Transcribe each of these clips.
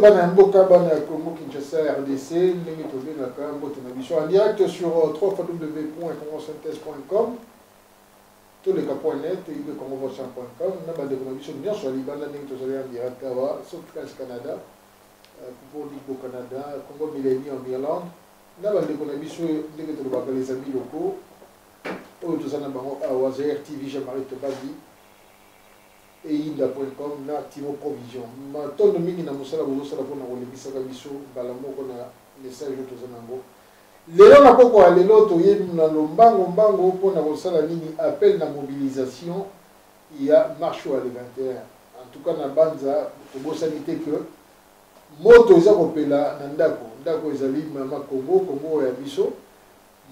bana ya mboka bana ya congo kinshasa rdc ndenge tobengaka mbote na biso en direct sur 3 www.congosynthèse.com toleka point net ibe congovoisin.com na bandeko na biso nyonso ya libanda ndenge tozali en direct awa sauf france canada euh, pour libo canada congo millennium irlande na bandeko na biso ndenge tolobaka les amis locaux oyo toza na bango awa zaire tv jean marie tobadi eyinda.com na timo provision matondo mingi na mosala bozosala mpona kolekisaka biso mbala moko na message oyo toza na yango lelo na poko ya lelo toye na lombango mbango mpona kosala nini appel na mobilisation ya marche oyo ya le 21 en tout cas na banza tobosani te que moto eza kopela na ndako ndako ezali mama kongo kongo ya biso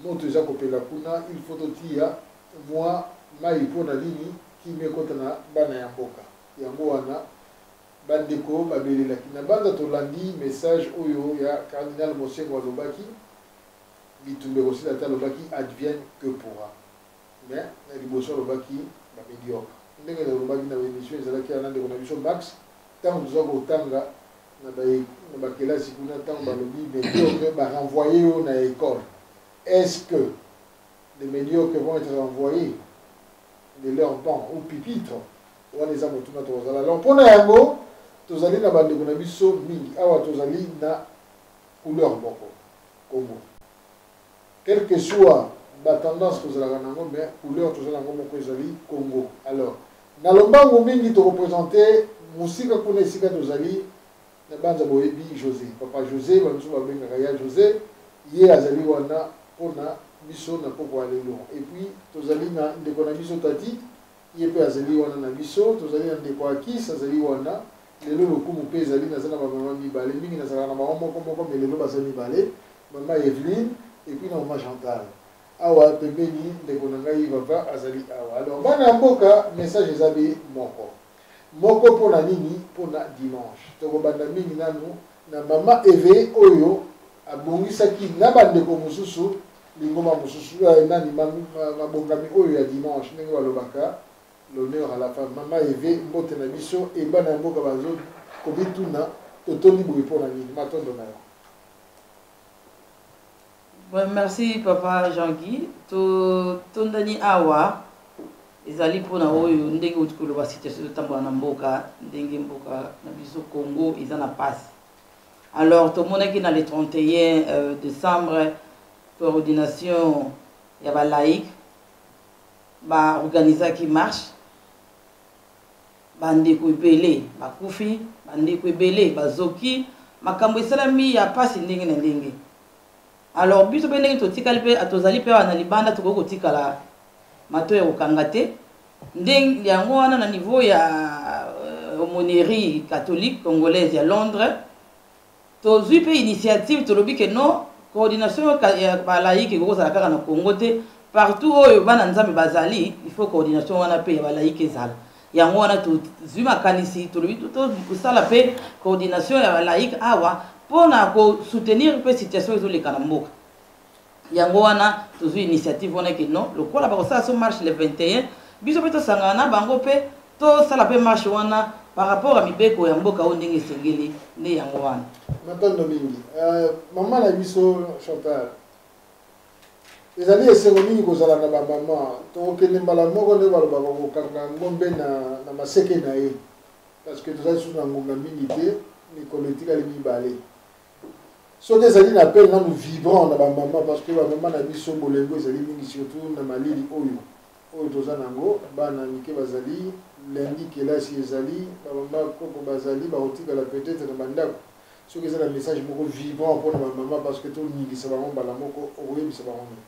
Moto eza kopela kuna il faut totiya mua mayi po na nini kimia ekota na bana ya mboka yango wana ba ndeko ba belelaki na banza tolandi message oyo ya cardinal Monsengwo alobaki bitumba ekosila te alobaki advienne que pourra mais na liboso alobaki ba mediocre ndenge nalobaki na emission ezalaki ya na ndeko na biso Max Tango toza kotanga na ba na ba kelasi kuna tango balobi mediocre ba renvoyer yo na école est-ce que les mediocres vont être renvoyés de leur banc ou pipitre wana eza motuna tokozala alors mpo na yango tozali na bandeko na biso mingi awa tozali na couleur moko kombo Quel que soit ba tendance tozalaka na yango mais couleur toza na yango moko ezali Congo. Alors na lombangu mingi to represente mosika kuna esika tozali na banza boyebi Jose papa Jose ba misusu babengaka ya Jose ye azali wana pona biso na poko ya lelo et puis tozali na ndeko na biso Tati ye pe azali wana na biso tozali na ndeko Akis azali wana Lelo lokumu pe ezali naza na ba maman mibale mingi nazalaka na bango moko moko mais lelo baza mibale maman Evelyne et puis na maman Chantal awa pembeni ndeko na ngai vava azali awa alors bana ya mboka message eza be moko moko pona nini pona dimanche tokobanda mingi nanu na maman Eve oyo abongisaki na bandeko mosusu lingoma mosusu euh, nani mabongami oyo ya dimanche ndenge balobaka L'honneur à la femme. Mama Eve, mbote na biso et bana ya mboka bazo komituna totondi boye mpo na nini? Matondo na yo. Bon, merci papa Jean-Guy. Totondani awa ezali mpona oyo ndenge outi koloba situation totambola na mboka ndenge mboka na biso congo eza na mpasi alors tomonaki na le 31 euh, décembre coordination ya balaïque Ba organisaki marche, ba ndeko ebele ba kufi, ba ndeko ebele ba zoki, makambo esalami ya pasi ndenge na ndenge. Alors biso pe ndenge totikali pe tozali pe awa na libanda tokoki kotikala mato ya kokanga te. Ndenge yango wana na niveau ya euh, aumônerie catholique congolaise ya Londres Tozui pe initiative tolobi que non coordination ya ba laïc ekoki kozala kaka na Congo te partout oyo bana Nzambe bazali il faut coordination wana pe ya ba laïc ezala yango wana tozui makanisi tolobi tosala pe coordination ya ba laïc awa pona ko soutenir pe situation ezoleka na mboka. yango wana tozwi initiative wana ke non lokola bakosala so marche le 21 biso mpe tosangana na bango mpe tosala mpe marche wana par rapport ya mibeko ya mboka oyo ndenge esengeli nde yango wana matondo mingi euh, mama na biso chantal ezali esengo mingi kozala na bamama tokokende mbala moko nde baloba bakokanga ngombe na, na maseke na ye parce que tozali susu na ngonga mingi te mikolo etikali mibale soki ezali na appel nanu vibrant na bamama parce que bamama na biso bolengo ezali mingi surtout na malili oyo oyo toza na yango bana mike bazali lundi kelasi ezali bamama koko bazali bakotikala peut-être na bandako soki eza na message moko vibrant mpo na bamama parce que toningisa bango mbala moko okoyebisa bango nini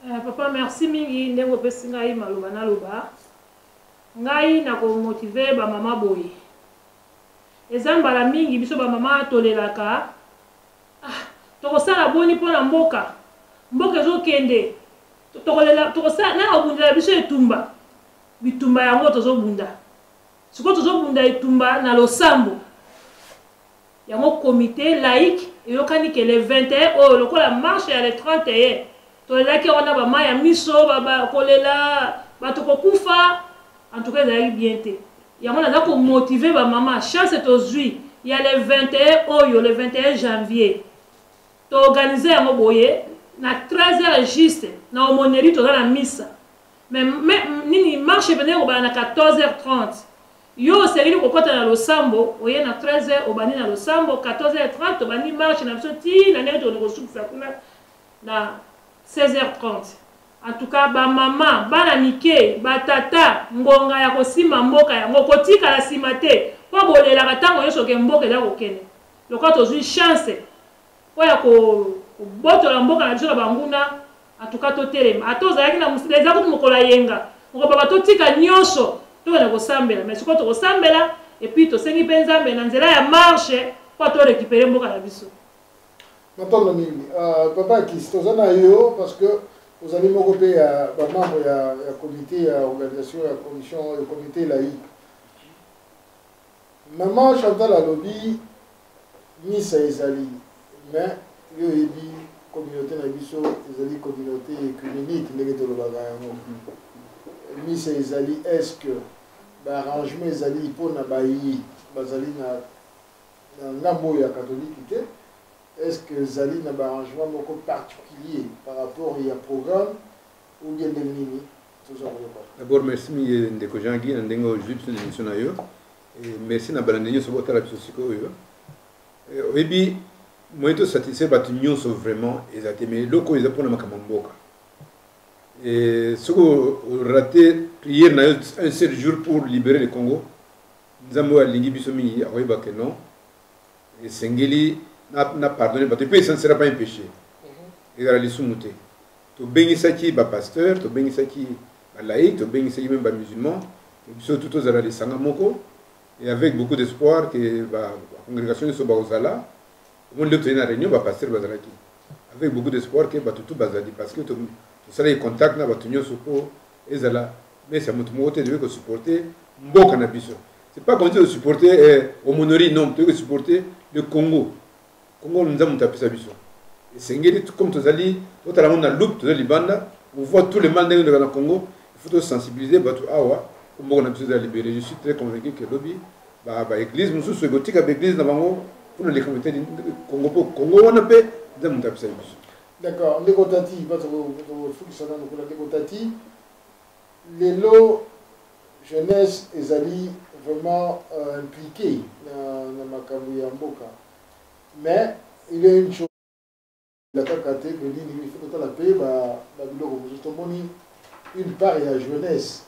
Uh, papa merci mingi ndenge opesi ngai maloba naloba ngai nakomotive bamama boye Eza mbala mingi biso ba mama tolelaka ah toko sala boni pona mboka mboka ezo kende toko lela toko sala nani akobundela biso etumba bitumba yango tozo bunda siko tozo bunda etumba na losambo yango comité laïque eyokani ke le 21 oyo lokola marche ya le 31 Tolelaki yango na ba mayi ya miso, ba ba kolela, bato kokufa, en tout cas ezalaki bien te. Yango naza ko motiver ba mama, chance tozui ya le 21 oyo, le 21 janvier, to organiser yango boye, na 13 heures juste, na aumônerie toza na misa. Mais, mais nini marche ependaki kobanda na 14 heures 30. Yo osengeli kokota na losambo, oye na 13 heures obandi na losambo, 14 heures 30 tobandi marche na biso ti na ndenge tokende kosukisa kuna na 16h30 en tout cas ba maman bana mike ba tata ngonga ya kosimba mboka yango kotikala sima te po bolelaka tango nyonso ke mboka eza kokende lokola tozwi chance po ya kobotola mboka na biso na banguna en tout cas totelema ata ozalaki na mosika eza kutu mokolo ayenga mokobaba totika nyonso tokende kosambela mais sikoyo tokosambela epuis tosengi mpe nzambe na nzela ya marche po to récupere mboka na biso matondo mingi uh, papa akisi toza na yo parce que ozali moko mpe ya bamembre ya, ya comité ya organisation ya commission ya comité laïque mama chantal alobi misa ezali mais yo oyebi communauté na biso ezali communauté ecumenique ndenge tolobaka yango misa ezali est ce que baarrangement ezali mpo na bayi bazali na Na ngambo oyo ya Katolike te, est ce que ezali na ba arrangements moko particulier par rapport ya programme ou bien ndenge nini? Toza koyoka. D'abord merci mingi ndeko Jean Guy na ndenge ozwi biso na emission na yo. Et merci na balandi nyonso botala biso sikoyo. Oyebi moyen to satisfaire bato nyonso vraiment eza te mais eloko oyo eza mpona makambo ya mboka soki orate prière na yo un seul jour pour libérer le congo Nzambe oyo alingi biso mingi akoyeba que non esengeli na pardonne bato mpe esansela pa impeche mhm. ezala lisumu te tobengisaki bapasteur tobengisaki balaïque tobengisaki meme bamusulman biso tu tozala lisanga moko et avec beaucoup d'espoir que bacongrégation nyonso bakozala omoni leo toyei na réunion bapasteur bazalaki avec beaucoup d'espoir que bato tu bazali parce que tosalaki contact na bato nyonso mpo ezala mesa moto moko te toyei kosupporte mboka na biso c'est pas comme si osupporte eh, omonori non toyei kosupporte le congo congo nza moto apesa biso esengeli comme tozali totala yango na loupe toza libanda on voit tout le mal ndenge ezalaka na congo il faut tosensibiliser bato awa po mboka na biso eza libere je suis très convaincu que lobi baeglise mosusu ekotika baeglise na bango mpona likambo etali congo mpo congo wana mpe nzambe moto apesaki biso D'accord, ndeko Tati, bato kosukisa nanu kuna ndeko Tati. Lelo jeunesse ezali vraiment euh, impliquée na, na makambo ya mboka. Mais il y a une chose la kaka te que nini il faut kotala mpe babiloko mosusu tomoni une part ya jeunesse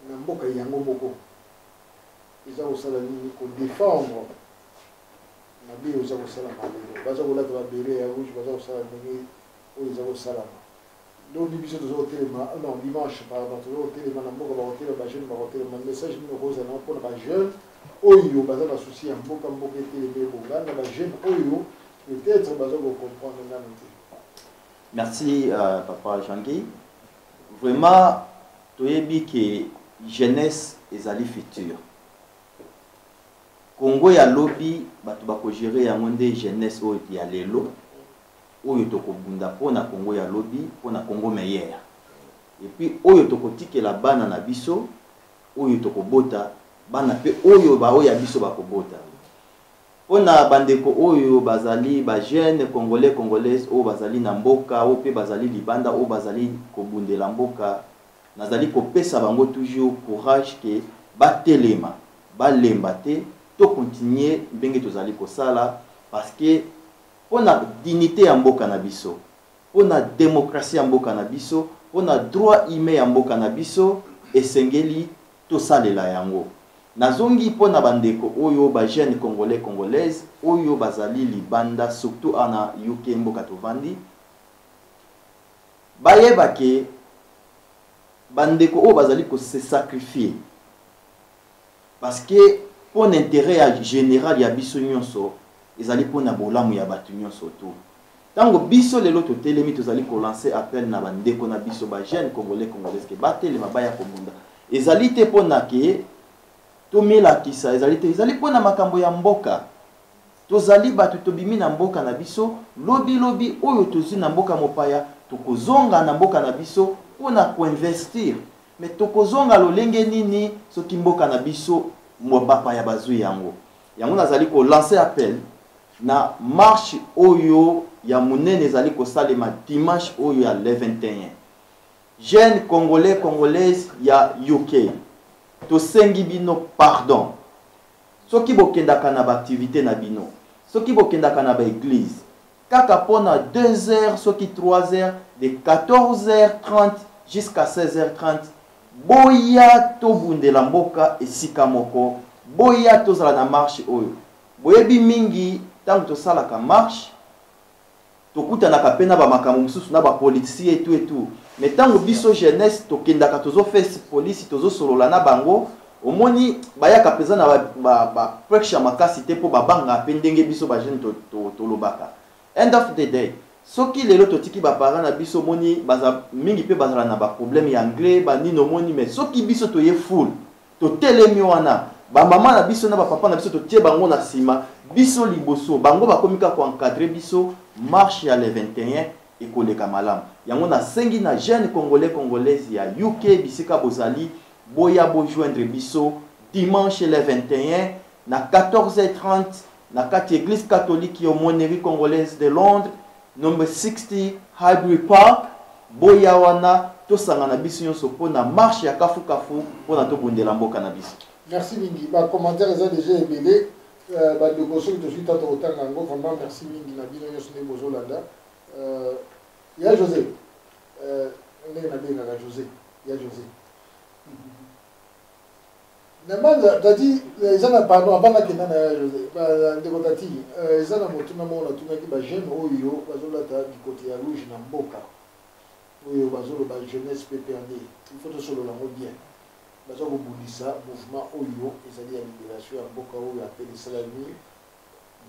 na mboka yango moko eza kosala nini kodefendre Mabe oza kosala na lelo. Baza kolata ba beret ya rouge, baza kosala ndenge oyo eza kosalama. Lobi biso toza kotelema, non dimanche pardon, toza kotelema na mboka, bakotelema ba jeunes bakotelema. Message nini okozala na yango mpo na ba jeunes oyo baza na souci ya mboka, mboka etelema ebonga, na ba jeunes oyo peut etre baza ko comprendre nanu te? Merci euh, papa Jean-Guy. Vraiment toyebi que jeunesse ezali futur Congo ya lobi batu bako gerer yango nde jeunesse oyo ya lelo oyo toko bunda po na congo ya lobi po na congo meilleur et puis oyo toko tikela bana na biso oyo toko bota bana pe oyo ba oya biso bako bota po na ba ndeko oyo bazali ba jeune congolais congolaise oyo bazali na mboka oyo pe bazali libanda oyo bazali ko bundela mboka Nazali kopesa bango toujours courage que batelema, balemba te, to continuer ndenge tozali kosala parce que pona dignite ya mboka na biso, pona democratie ya mboka na biso, pona droit humain ya mboka na biso esengeli tosalela yango. Nazongi pona bandeko oyo ba jeunes congolais, congolaises oyo bazali libanda surtout awa na UK mboka tovandi, Bayeba que ba ndeko oyo bazali ko se sacrifier parce que pona interet ya general ya biso nionso ezali pona bolamu ya batu nionso tout. Tango biso lelo totelemi tozali ko lancer appel na ba ndeko na biso ba jeunes congolais congolaises que batelema baya kobunda ezali te pona que tomilakisa ezali te ezali pona makambo ya mboka. Tozali bato tobimi na mboka na biso, lobi lobi oyo tozui na mboka mopaya tokozonga na mboka na biso mpo na koinvestir mais tokozonga lolenge nini soki mboka na biso bapaya bazui yango? Yango nazali ko lancer appel na marche oyo ya monene ezali kosalema dimanche oyo ya le 21 jeune congolais congolaise ya UK tosengi bino pardon Soki bokendaka na ba activites na bino, soki bokendaka na ba eglises, kaka po na deux heures soki trois heures, de 14h30 jusqu'à 16h30, boya tobundela mboka esika moko, boya tozala na marche oyo. Boyebi mingi tango tosalaka marche, tokutanaka pe na ba makambo mosusu na ba politici et tout et tout mais tango biso jeunesse tokendaka tozo face police tozo solola na bango omoni bayaka peza na ba, ba, ba pressure makasi te po babanga pe ndenge biso ba jeune tolobaka to, to end of the day soki lelo totiki baparent na biso omoni baza mingi mpe bazala na baproblème ya anglais banini omoni mais soki biso toye full Totelemi wana, ba mama na biso na ba papa na biso totie bango na sima, biso liboso, bango bakomi kaka ko encadrer biso, marche ya le 21 ekoleka malamu. Yango nasengi na jeunes congolais, congolaises ya UK bisika bozali, boya bo joindre biso dimanche le 21 na 14h30 na kati eglise catholique ya Aumônerie congolaise de Londres, Number 60 Highbury Park, boya wana tosangana biso nyonso mpo na marche ya kafu kafu mpo na tobundela mboka na biso. Merci mingi, ba commentaires eza déjà ebele. Euh, ba ndeko soki tozwi ntango tokotanga yango vraiment merci mingi na bino nyonso ndenge bozolanda euh, ya josé euh, ndenge nabengaka josé ya josé Mais manga tati eza na pardon avant na kenda na ndeko tati eza na motuna moko natunaki ba jeune oyo bazolata bikoti ya rouge na mboka oyo bazoloba jeunesse PPRD il faut tosolola yango bien baza kobundisa mouvement oyo ezali ya liberation ya mboka oyo apele esalami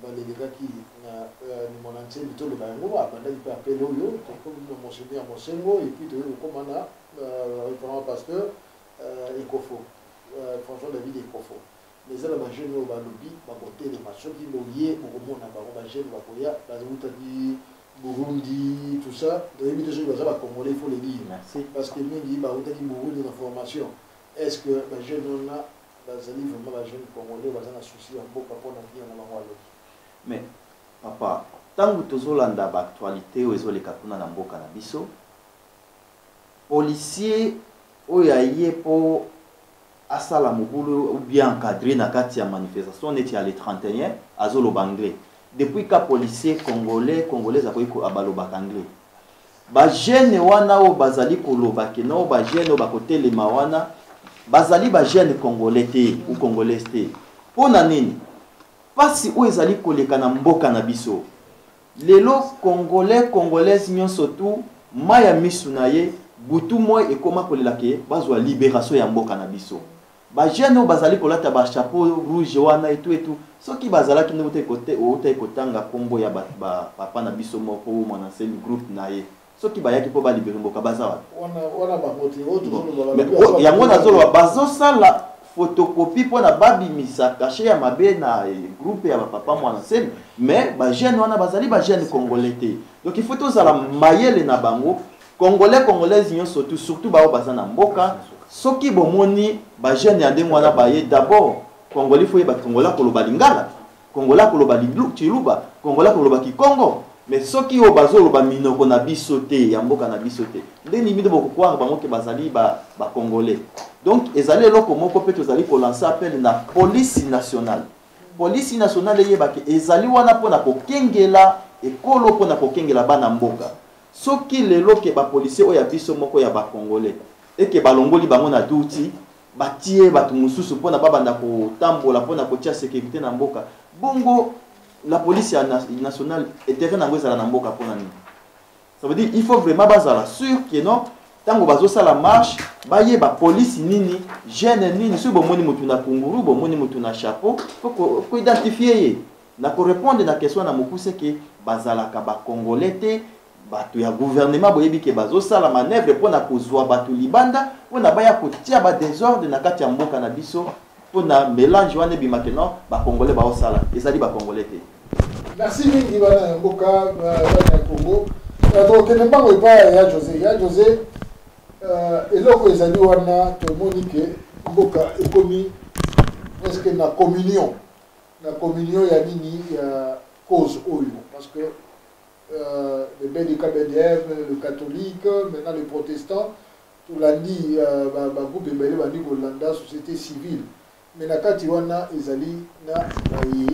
balelekaki na euh, limona nsembi toloba yango abandaki mpe apele oyo tokomi na mosemi ya mosengo epuis toyei kokóma na euh, referent pasteur Euh, ekofo euh, François David ekofo mais eza na bajeune oyo balobi bakotelema soki boye bokomona bango bajeune bakoya bazowutaki burundi tout ça toyebi te soki baza bacongolais faut le dire parce que mingi bawutaki burundi na formation est ce que bajeune wana bazali vraiment bajeune congolais baza na souci ya mboka mpo na vie na bango alobi mais papa ntango tozolanda baactualité oyo ezoleka kuna na mboka na biso Policier oyo aye po asala mobulu ou bien encadrer na kati ya manifestation neti ya le 31 azo loba anglais. Depuis quand policier congolais, congolaise akoki ko balobaka anglais? Ba jeunes wana oyo bazali koloba ke non ba jeunes oyo bakotelema wana bazali ba jeunes congolais te ou congolaise te. Po na nini? Pasi oyo ezali koleka na mboka na biso. Lelo congolais congolaise nionso tout mayi ya misu na ye butu moi ekoma kolela ke bazua liberation ya mboka na biso. Ba jeunes oyo bazali kolata ba chapeau rouge wana et tout et tout soki bazalaki nde outaki kotanga kombo ya ba papa na biso moko ou mwana nsemi groupe na ye. soki bayaki mpo balibere mboka baza wapi yango nazoloba bazosala photocopie mpo na babimisa kashe ya mabe na eh, groupe ya bapapa mwana nsemi mais bajeune wana bazali bajeune congolais te donc il faut tozala mayele na bango congolais congolaise nyonso tu surtout baoyo baza na mboka soki bomoni bajeune ya ndenge wana baye d'abord congolais fo yeba congolais akoloba lingala Congolais akoloba tshiluba, Congolais akoloba kikongo, mais soki oyo bazoloba minoko na biso te ya mboka na biso te nde nini bino bokokware bango ke bazali bacongolais ba donc ezali eloko moko mpe tozali kolanse appel na polisi nationale polisi nationale eyebake ezali wana mpo na kokengela ekolo mpo na kokengela bana mboka soki lelo ke bapolisier oyo ya biso moko ya bacongolais eke balongoli bango na duti batie bato mosusu mpona babanda kotambola mpona kotia securite na mboka bongo la police ya nationale etere nango ezala na mboka mpona nini ça veut dire il faut vraiment bazala sur que non ntango bazosala marche bayeba polisi nini gene nini soki bomoni motu na kunguru bomoni motu na chapeau koidentifie ye na korepondre na question na mokuse ke bazalaka bacongolais te bato ya gouvernement boyebi ke bazosala manœuvre mpo na kozwa bato libanda mpo na baya kotia ba desordre na kati ya mboka na biso mpo na melange wana ebima ke non bacongolais baosala ezali bacongolais te merci mingi bana ya mboka bana ya congo euh, tokokende mbango epai ya josé ya josé euh, eloko ezali wana tomoni ke mboka ekomi presque na communion na communion ya nini ya cause oyo parce que Bebe de KBDM, le catholique, maintenant le protestant, tolandi ba groupe ebele bandi kolanda societe civile mais na kati wana ezali na baye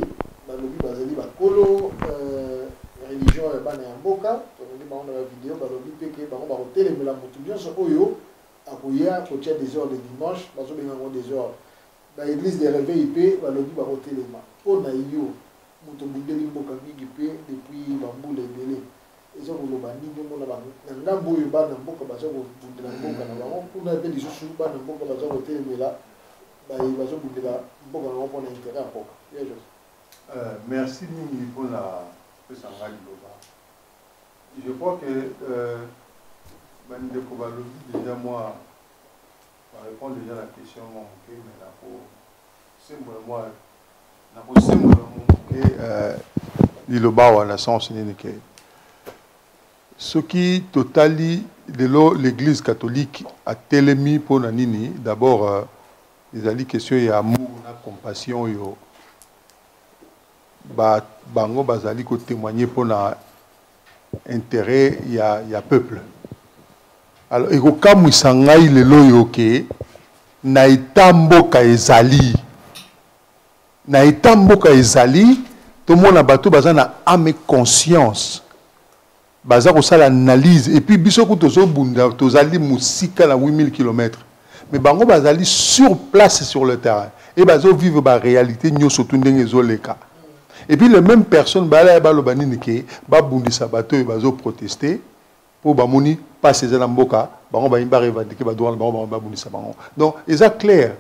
balobi bazali bakolo religion ya bana ya mboka tolandi bango na ba video balobi mpe ke bango bakotelemela motu nyonso oyo akoya kotia desordre dimanche bazobenga yango desordre Ba eglises de reveil pe balobi bakotelema po na yo mutu obundeli mboka mingi pe depuis ba mbula ebele ezo koloba nini omona ba na ngambo oyo bana mboka bazo kobundela mboka na bango kuna pe lisusu bana mboka bazo kotelemela baye bazo bundela mboka na bango po na interet ya mboka ya Jose Euh, merci mingi mpo na kopesa ngai liloba je crois que euh, bandeko balobi deja mwa Na repondre dejà na question mwa moke mais nako sembola mwa nako sembola mwa moke liloba awa na sens nini ke soki totali lelo l'église catholique atelemi mpo na nini d'abord euh, ezali question ya amour na compassion oyo ba, bango bazali kotemoigne mpo na interet ya, ya peuple alors ekokamwisa ngai lelo oyo ke na eta mboka ezali na eta mboka ezali tomona bato baza na ame conscience baza kosala analyse epuis biso kutu tozobunda tozali mosika na 8000 kilomètre mais bango bazali sur place sur le terrain et bazo vivre ba réalité nyoso tu ndenge ezoleka et puis les mêmes personnes balaya baloba nini ke babundisa bato oyo bazo protester mpo bamoni mpasi eza na mboka bango bayini barevandike badroit na bango bango babundisa bango donc eza claire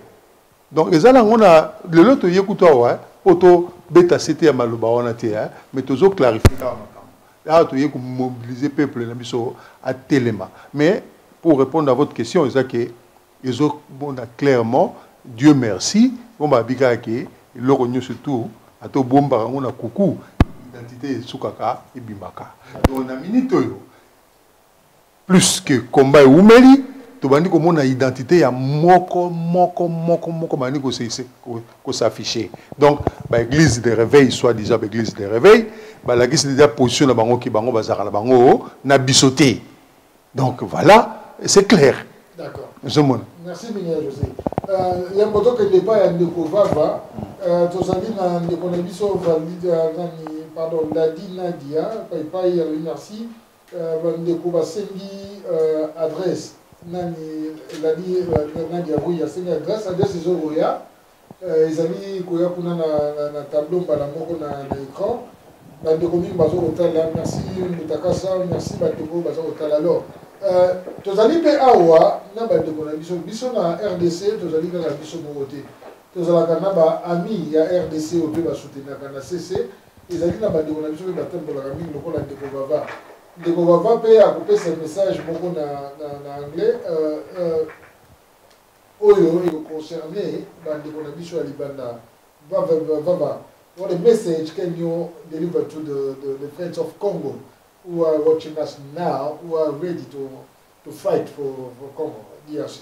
donc eza nango na lelo toye kutu awa mpo tobeta sete ya maloba wana te mais tozo clarifie kaka makambo awa toye komobilize peuple na biso atelema mais pour répondre à votre question eza ke ezomona clairement dieu merci mpo babi kaka ke eloko nyonso tout ata obombaka yango na kuku identité esukaka ebimaka donc na minute oyo Plus que combat ewumeli, tobandi komona identite ya moko moko moko moko bandi ko s'afficher. Donc ba église de réveil soit disant ba église de réveil, balakisi deja position na bango ki bango bazalaka na bango na biso te. Donc voilà, c'est clair. D'accord. Ozomona. Merci mingi ya José. Euh, ya mboto ke départ ya ndeko Vava, euh, tozali na ndeko na biso valide euh, nani pardon Dadi Nadia, paipai ya merci. Ba ndeko ba sengi adresse nani ladi nani ya oui asengi adresse adresse ezo koya ezali koya kuna na na tableau mbala moko na na écran ba ndeko mingi bazo kotala merci mutakasa merci ba ndeko bazo kotala alors Euh, tozali mpe awa na bandeko na biso biso na rdc tozali kaka biso moko te tozalaka na baami ya rdc oyo mpe basutenaka na cc Ezali na bandeko na biso mpe batambolaka mingi lokola ndeko Vava. Ndeko Vava mpe akopesa message moko na, na, na anglais uh, uh, oyo ekoconcerne bandeko na biso ya libanda. Vava, Vava, what a message can you deliver to the, the, the friends of Congo who are watching us now, who are ready to, to fight for, for Congo, DRC?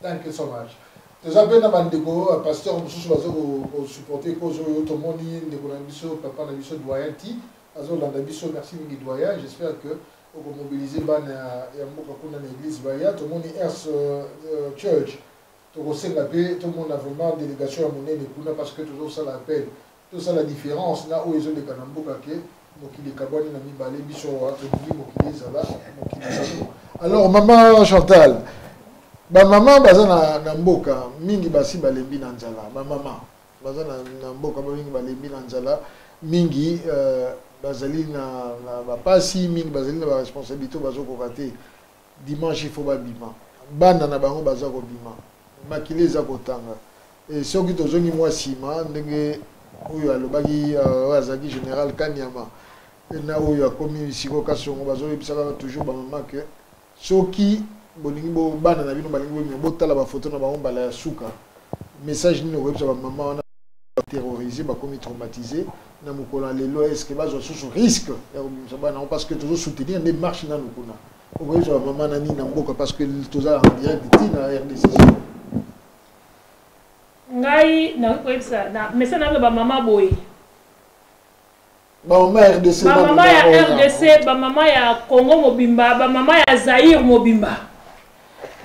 Thank you so much. Toza pe na ba ndeko euh, pasteur mususu bazo ko supporter cause oyo tomoni ndeko na biso papa na biso doyen ti azo landa biso merci mingi doyen j'espère que oko mobiliser bana ya mboka kuna na église baya tomoni ers euh, euh, church tokosenga pe tomona vraiment délégation ya monene kuna parce que tozo sala appel Tosala difference na oyo ezo leka na mboka ke mokili ekabwani na mibale biso awa tolingi mokili ezala mokili alors maman Chantal ba maman baza na, na mboka mingi basi balembi na nzala ba maman baza na, na mboka mingi balembi na nzala mingi euh, bazali na, na bapasi mingi bazali na baresponsabilité bazokoka te Dimanche il faut babima. Bana na bango baza kobima. Makila eza kotanga. Et soki tozongi mwa sima ndenge oyo alobaki euh, oyo azalaki général Kanyama na oyo akomi siko Kasongo bazoyebisaka toujours bamama ke soki bolingi bana na bino balingi bolingi botala bafoto na bango mbala ya suka message nini okoyebisa bamama wana terrorisé bakomi traumatisé na mokolo ya lelo eske bazwa susu risque ya kobimisa bana yango parce que tozo soutenir nde marche nanu kuna okoyebisa bamama na nini na mboka parce que toza en direct ti na rdc ngai nakoki koyebisa message nayoka bamama boye bamama ya rdc bamama ya rdc bamama ya congo mobimba bamama ya zaire mobimba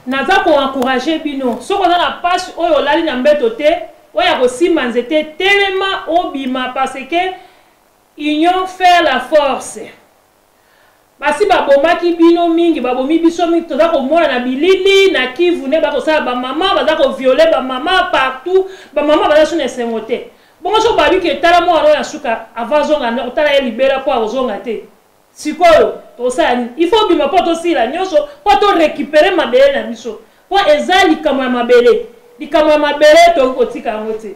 naza koencourage bino soki oza na mpasi oyo olali na mbeto te oyo ya kosimba nzete telema obima parce que union faire la force Basi ba bomaki bino mingi ba bomi biso mingi toza ko mona na bilili na kivu nde ba kosala ba maman baza ko viole ba maman partout ba maman baza suna esengo te bongo so babi ke tala mwana oyo ya suka avant azonga ndako tala ye libela po akozonga te sikoyo tokosala nini il faut bima po tosila nyoso po to recupere mabele na biso po eza likambo ya mabele likambo ya mabele tokoki kotika yango te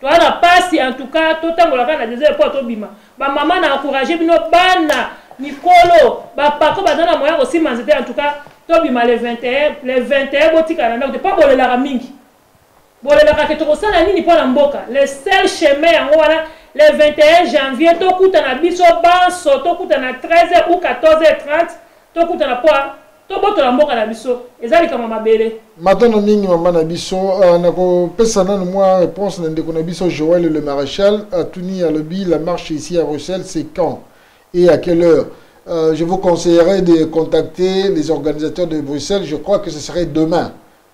Toza na pasi en tout cas to tangola kaka na desole po to bima. Ba maman na encourager bino bana mikolo ba pako baza na moyen ko sima nzete en tout cas to bima le 21 le 21 bo tika na ndako te po bolelaka mingi. Bolelaka ke toko sala nini po na mboka le seul chemin yango wana le 21 janvier to kuta na biso banso to kuta na 13 ou 14 heures 30 to kuta na po Tobotola mboka na biso eza likambo ya mabele. Matondo mingi mama na biso uh, nakopesa nanu mwa réponse na ndeko na biso Joël le maréchal atuni alobi la marche ici à Bruxelles c'est quand et à quelle heure euh, je vous conseillerais de contacter les organisateurs de Bruxelles je crois que ce serait demain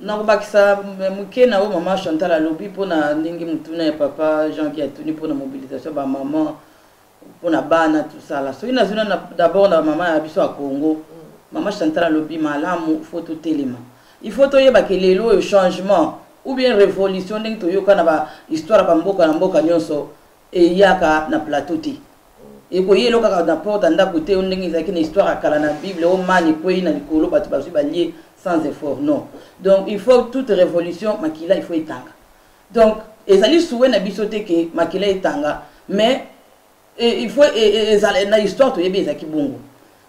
Nakobakisa moke na oyo mama Chantal alobi mpo na ndenge motuna ya papa Jean qui atuni mpo na mobilisation ba maman mpo na bana tosala soki nazwi na d'abord na mama ya biso ya Congo mm. mama Chantal alobi malamu faut totelema il faut toyeba ke lelo oyo changement ou bien révolution ndenge toyoka na ba histoire ba mboka na mboka nyonso eyaka na plateau te ekoyi elo kaka na porte ya ndako te yo ndenge ezalaki na histoire ya kala na bible o mani ekwei na likolo bato bazwi balie sans effort non donc il faut toute révolution makila il faut etanga donc ezali souwe na biso te ke makila etanga mais il faut e, e, ezala na histoire toyebi ezalaki bongo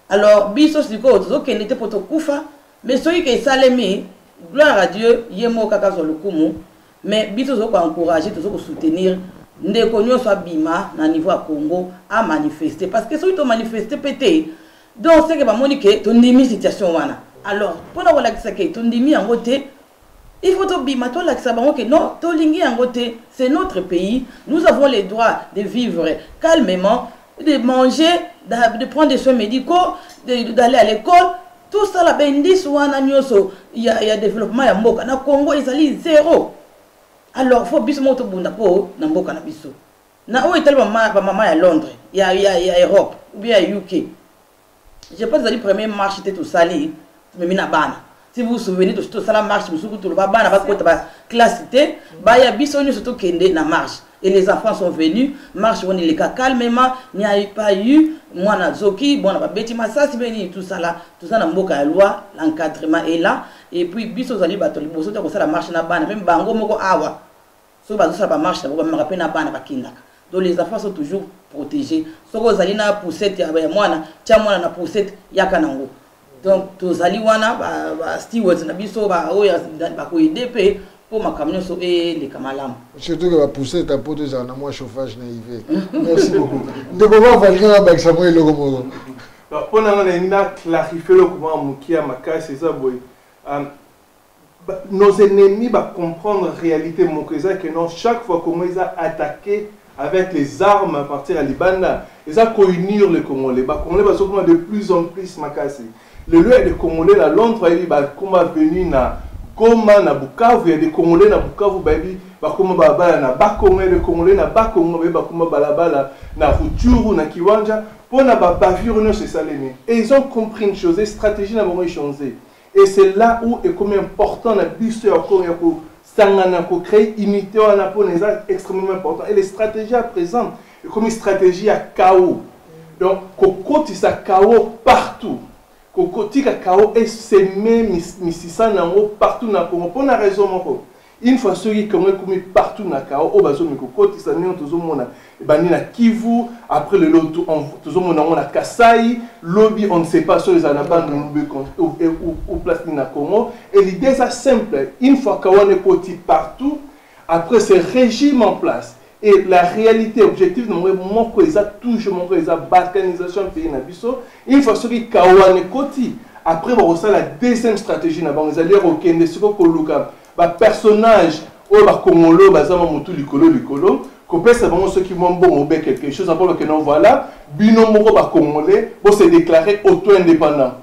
alors biso sikoyo tozokende te mpo tokufa mais soki ke esalemi gloire à dieu ye moko kaka azwa lokumu mais biso tozo ko encourager tozo ko soutenir ndeko nyonso abima na niveau ya congo amanifeste parce que soki tomanifeste mpe te donc seke bamoni ke tondimi situation wana alors mpo na kolakisa ke tondimi yango te il faut tobima tolakisa bango ke non tolingi yango te c'est notre pays nous avons le droit de vivre calmement de manger de prendre des soins médicaux d'aller à l'école To sala ba indices wana nioso ya, ya developpement ya mboka na Congo ezali zero. Alors faut biso moko tobunda mpo na mboka na biso. Na oyo etali bamama ya Londres, ya, ya, ya Europe, ou bien ya UK. Je pense ezali premier marche te tosali tumemi na bana. si vous vous souvenez tosala marche mosusu kutu loba bana bakota ba classe te baya biso nyonso tokende na marche et les enfants sont venus marche wana eleka calmement n'y a pas eu mwana azoki bwana babeti masasi mpe nini tout ça là toza na mboka ya loi l'encadrement est là et puis biso ozali bato liboso te kosala marche na bana mpe bango moko awa soki bazosala bamarche yango bamemaka mpe na bana bakendaka donc les enfants sont toujours protégés soki ozali na poussette ya mwana tya mwana na poussette yaka nango donc tozali wana ba stewards na biso baoyo bakoede mpe mpo makambo nyonso eleka malamu surtout ke bapousse ta mpo tozala na mwa chauffage na hiver merci beaucoup ndeko bavalinga nabakisa mwa eloko moko mpo na nga nalingi na clarifie eloko mwa moke ya makasi eza boye Nos ennemis ba comprendre realite moko eza que non chaque fois congo eza attaque avec les armes à partir ya libanda eza ko unir les congolais ba congolais bazo koma de plus en plus makasi lelo ya de congolais na londres ayebi ba koma venu na goma na bukavu ya de congolais na bukavu bayebi ba koma balabala na ba congo ya de congolais na ba congo bayebi ba koma balabala na ruchuru na kiwanja pona ba bavure nyonso esalemi et ils ont compris une chose et stratégie na bango echangee Et c'est là où ekomi important na biso ya ko ya ko sangana ko créer unité wana pona eza extrêmement important et les stratégies à présent ekomi stratégie ya chaos donc kokotisa chaos partout kokotika chaos eseme misisa na yango partout na Congo pona raison moko Une fois soki Congo ekomi partout na kao oyo bazomi kokotisa ndenge tozomona ebandi na Kivu après le lelo tozomona yango na Kasai lobi on ne sait pas soki ezala na bande lube ou place nini na Congo et l'idée eza simple une fois kawana ekoti partout après ce régime en place Et la réalité, objectif na mwe moko eza toujours moko eza balkanisation pays na biso. Une fois soki kawa ne koti, après ba la deuxième stratégie na bango ezali kokende siko koluka ba personnage oyo ba kongolo baza ma mutu likolo likolo kopesa bango soki mwa mbongo obe quelque chose après bakende non voilà bino moko ba congolais bo se déclarer auto indépendant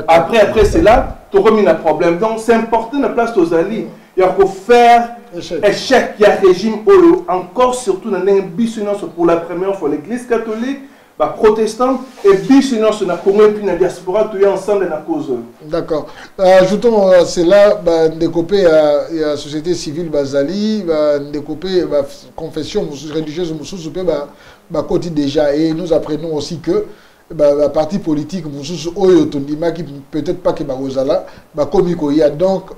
après après cela tokomi na problème donc c'est important na place tozali ya ko faire échec ya régime oyo encore surtout na ndenge biso nyonso pour la première fois l'église catholique baprotestante et biso nyonso na congo epuis na diaspora toya ensemble na cause oyo d'accord euh, ajoutons euh, cela bandeko mpe ya, ya société civile bazali bandeko mpe baconfession religieuse mosusu mpe bakoti déjà et nous apprenons aussi que baparti politique mosusu oyo tondimaki peut-être pas ke bakozala bakomi koya donc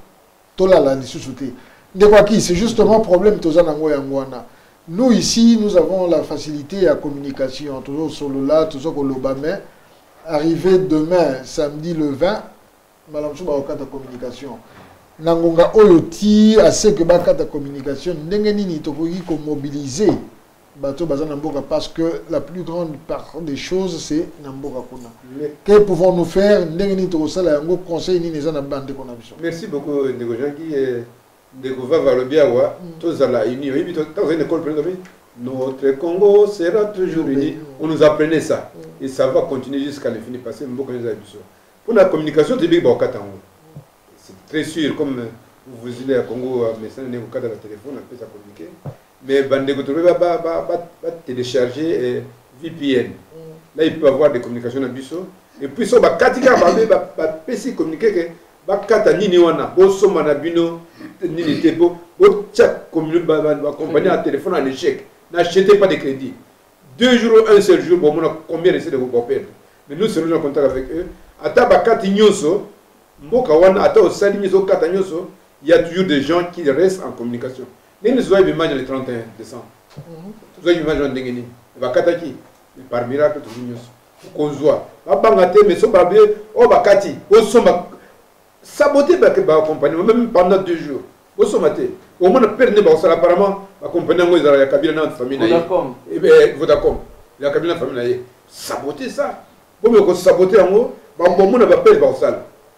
tolala lisusu te ndeko aki c'est justement problème toza nango yango wana nous ici nous avons la facilité ya communication tozosolola toza koloba mais arrivé demain samedi le 20 mbala mosusu bakokata communication na ngonga oyo ti aseke bakata communication ndenge nini tokoki komobilize bato baza na mboka parce que la plus grande part des choses c'est na mboka kuna que pouvons nous faire ndenge nini tokosala yango conseil nini eza na bandeko na biso merci beaucoup ndeko janki eh, ndeko vava alobi awa mm. tozala uni oyebi tozali na ekole mpena notre congo sera toujours uni on nous apprenait ça mm. et ça va continuer jusqu'à l'infini parce que mboka eza ya biso mpo na communication toyebi bakokata yango c'est très sûr comme vous voulez ya congo euh, mesana ndenge kokata na telefone apesa communiquer Mais bandeko tobe ba ba ba, ba, ba télécharger eh, VPN. Mm. Là il peut avoir des communications na biso et puis so bakati kaka babe bapesi communiqué ke bakata nini wana bosomba na bino nini te po botia bacompagnie ya téléphone en échec n'achetez pas de crédit deux jours un seul jour bomona combien recette ekoboperdre mais nous serons en contact avec eux ata bakati nyonso mboka wana ata osali nyonso okata nyonso il y a toujours des gens qui restent en communication Nini tozwa ebimbaji le 31 décembre tozwa ebimbaji wana ndenge nini bakataki mais par miracle tozwi nyonso okozwa babanga te mais so babie oyo oh, bakati osomba sabote bacompagnie même pendant deux jours bosomba te omona pere nde bakosala apparemment bacompagnie yango ezala ya kabila na famille na ye eh eh, vodacom ya kabila na famille na ye sabote ça bomi okosabote yango bambomona bapere bakosala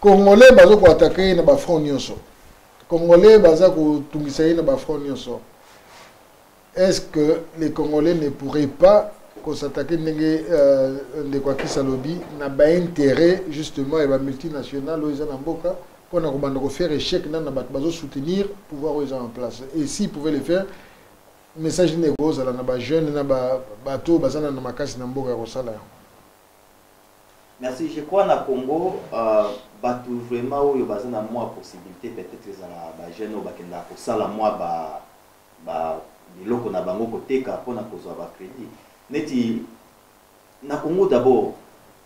Congolais bazo ko attaquer ye na ba front nyonso. Congolais baza kotungisa ye na ba front nyonso. Est-ce que les Congolais ne pourraient pas ko s'attaquer ndenge euh, ndeko akisa lobi na ba intérêt justement ya ba multinationales oyo eza na mboka mpo na kobanda kofaire échec nano na bato bazo soutenir pouvoir oyo eza en place et si pouvait le faire message nini ekozala na ba jeune na bato oyo baza na makasi na mboka ya kosala yango Merci je crois na Congo euh, batu vraiment oyo baza na mwa possibilité peut-être ezala ba jeunes oyo bakendaka kosala mwa ba ba biloko na bango koteka mpo na kozwa ba credit neti na Congo d'abord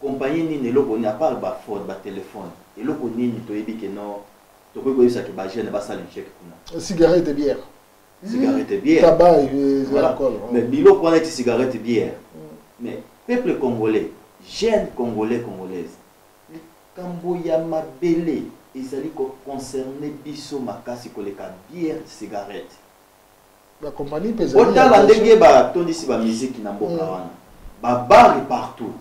compagnie nini eloko nini apart ba phone ba téléphone eloko nini toyebi ke non tokoki koyebisa ke ba jeunes basala échec kuna cigarette et bière cigarette bière tabac euh, voilà. alcool oh. mais biloko wana ti cigarette bière mm. mais peuple congolais jeune congolais congolaise likambo ya mabele ezali koconcerne biso makasi koleka bière cigarette otala ndenge batondisi bamiziki na mboka mm. wana babare partout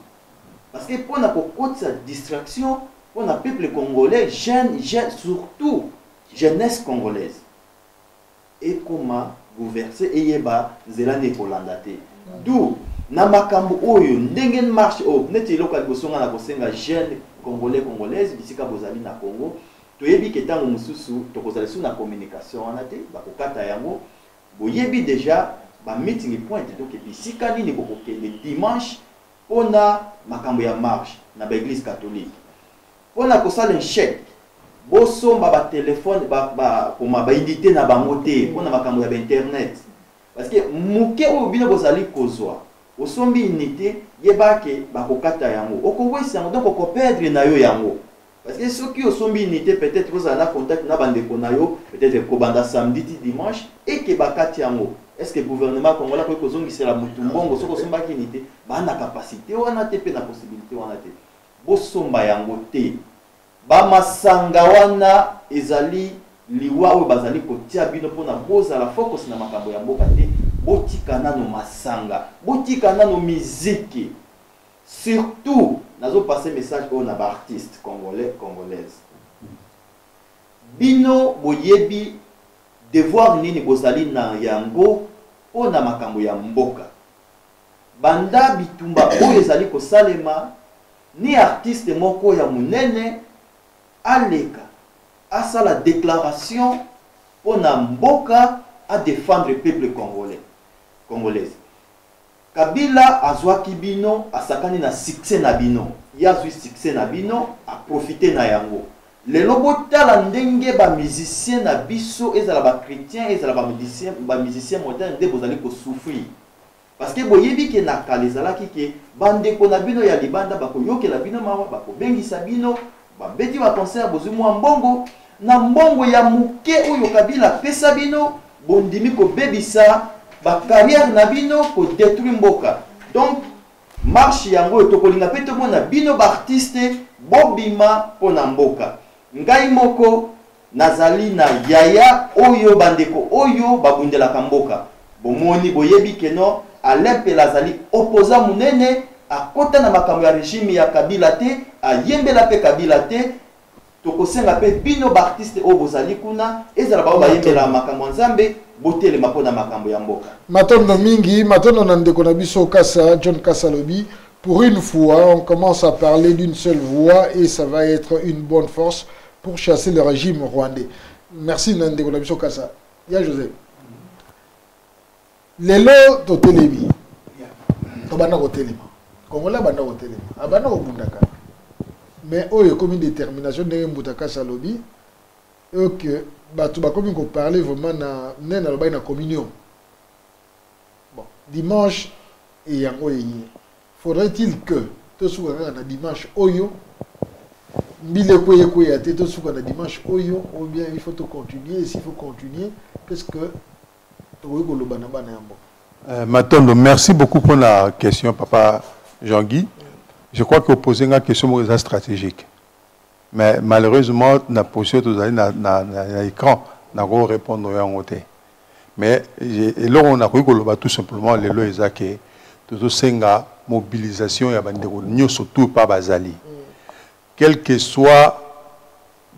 parce que mpo na kokotisa distraction mpo na peuple congolais jeune, jeune surtout jeunesse congolaise ekoma bouverse eyeba nzela nini ekolanda te du na makambo oyo ndenge marche oyo oh, neti eloko ya liboso ngai na kosenga jeune congolais congolaise bisika bozali na congo toyebi ke ntango mosusu tokozala lisusu na communication wana te bakokata yango boyebi deja ba meeting point donc bisika nini bokokende dimanche mpona makambo ya marche na baeglise catholique Pona kosala echec bo somba ba telephone ba ba koma ba unite na bango te pona makambo ya ba internet parce que muke oyo bino bozali kozwa osombi unite yeba ke bakokata yango oko wesi yango donc oko perdre na yo yango parce que soki osombi unite peut etre ozala na contact na ba ndeko na yo peut etre kobanda samedi ti dimanche et ke bakati yango est ce que gouvernement congolais akoki kozongisela mutu mbongo soki osombaki unite ba na capacite wana te pe na possibilite wana te Bosomba yango te. Ba masanga wana ezali liwa oyo bazali kotia bino pona bozala focus na makambo ya mboka te. Botika nano masanga. Botika nano miziki. Surtout nazo passer message oyo na ba artistes congolais, congolaises. Bino boyebi devoir nini bozali na yango pona makambo ya mboka. Banda bitumba oyo ezali kosalema, ni artiste moko ya monene aleka asala declaration mpo na mboka, a defendre peuple congolais, congolaise. Kabila azwaki bino, asakani na succès na bino. Ye azwi succès na bino, a profiter na yango. Lelo botala ndenge ba musiciens na biso, ezala ba chretiens, ezala ba musiciens modernes nde bozali ko souffrir. Parce que boyebi que na kala ezalaki que ba ndeko na bino ya libanda bako yokela bino mawa, bako bengisa bino, ba beti ba concert bozui mua mbongo, na mbongo ya muke oyo Kabila apesa bino bondimi ko bebisa ba carrière na bino, ko detruit mboka. Donc marche yango oyo toko linga pe tomona bino ba artistes bo bima pona mboka. Ngai moko Nazali na yaya oyo bandeko oyo babundelaka mboka. Bomoni, boyebi que no. Alain Mpela azali opposant munene, akota na makambo ya regime ya Kabila te, ayembela mpe Kabila te. Tokosenga mpe bino b'artistes oyo bozali kuna, ezala baoyo bayembelaka makambo ya Nzambe, botelema mpo na makambo ya mboka. Matondo mingi, matondo na ndeko na biso Kasa, John Kasa alobi, pour une fois, on commence à parler d'une seule voix et ça va être une bonne force. pour chasser le régime rwandais merci na ndeko na biso kasa ya joseph lelo totelemi tobanda kotelema kongola abanda kotelema abanda kobundaka mais oyo ekomi détermination ndenge mbuta kasi alobi oke bato bakomi koparle vraiment na nene nalobaki na communion bon dimanche eyango eye Faudrait-il que tosuka kaka na dimanche oyo mbila ekweya ekweya te tosuka na dimanche oyo ou bien il faut tocontinue esi il faut continue qu'est ce que tokoki koloba na bana ya mboka euh, matondo merci beaucoup mpo na question papa jean guy je crois que opose nga question moko eza stratégique mais malheureusement na position tozali na, na, na, na écran nakorépondre yango te mais eloko nakoki koloba tout simplement lelo eza ke tozosenga mobilisation ya bandeko nyonso tout epa bazali quel que soit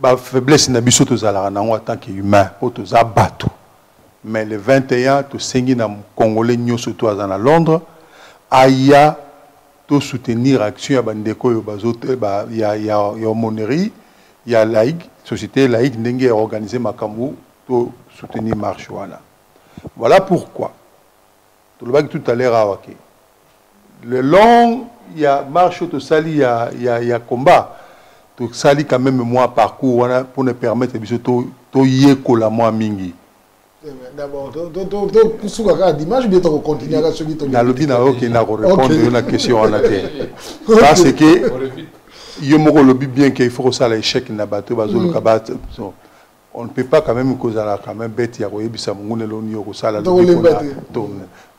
bafaiblesse na biso tozalaka nango en tant que humain mpo toza bato mais le 21 tosengi na congolais nyonso to aza na londres aya tosoutenir action ya bandeko oyo ya homonerie ya laïque société laïque ndenge ya organise makambo To soutenir marche wana. Voilà pourquoi tolobaki tout à l'heure awa ke le long ya marche oyo tosali ya, ya, ya combat tosali quand même mwa parcours wana mpo na permettre biso toyekola to mwa mingi nalobi na yo okenda korepondre yo na question wana te parce que yo moko olobi bien ke il faut kosala échec na bato bazoluka mm. on ne peut pas quand même kozala quand même bête ya koyebisa monguna eloko nini okosala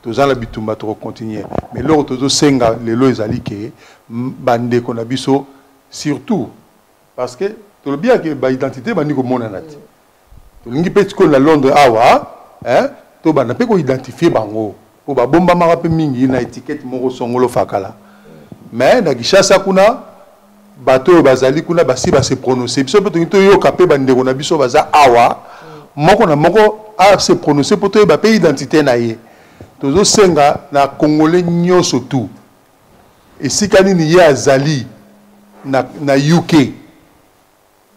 toza na bitumba tokocontinue mais eloko tozosenga lelo ezali ke bandeko na biso surtout parce que tolobi yake baidentité bandi komonana te tolingi mpe sikoyo na londres awa hein, tobanda mpe koidentifie bango po babombamaka pe mingi na etiquette moko songolo fakala mais na kishasa kuna bato oyo bazali kuna basi ba se prononcer biso mpe tolingi toyoka mpe bandeko na biso baza awa moko na moko a se prononcer mpo toyeba mpe identité na ye tozosenga na congolais nyonso tu esika nini ye azali na, na uk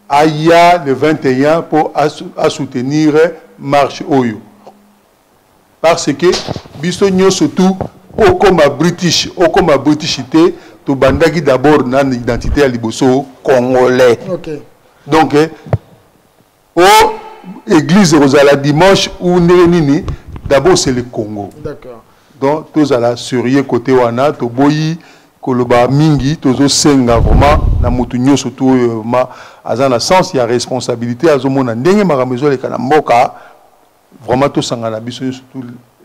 aya le 21 mpo asoutenir marche oyo Parce que biso nyoso tout okoma british okoma british te tobandaki d'abord na identité ya liboso congolais. Okay. Donc eh, o église ekozala dimanche ou ndenge nini d'abord c'est le Congo. D'accord. Donc tozala sérieux côté wana toboyi koloba mingi tozosenga vraiment na motu nyonso tu oyo euh, ma aza na sens ya responsabilité azomona ndenge makambo ezoleka na mboka Vraiment tout sangana biso surtout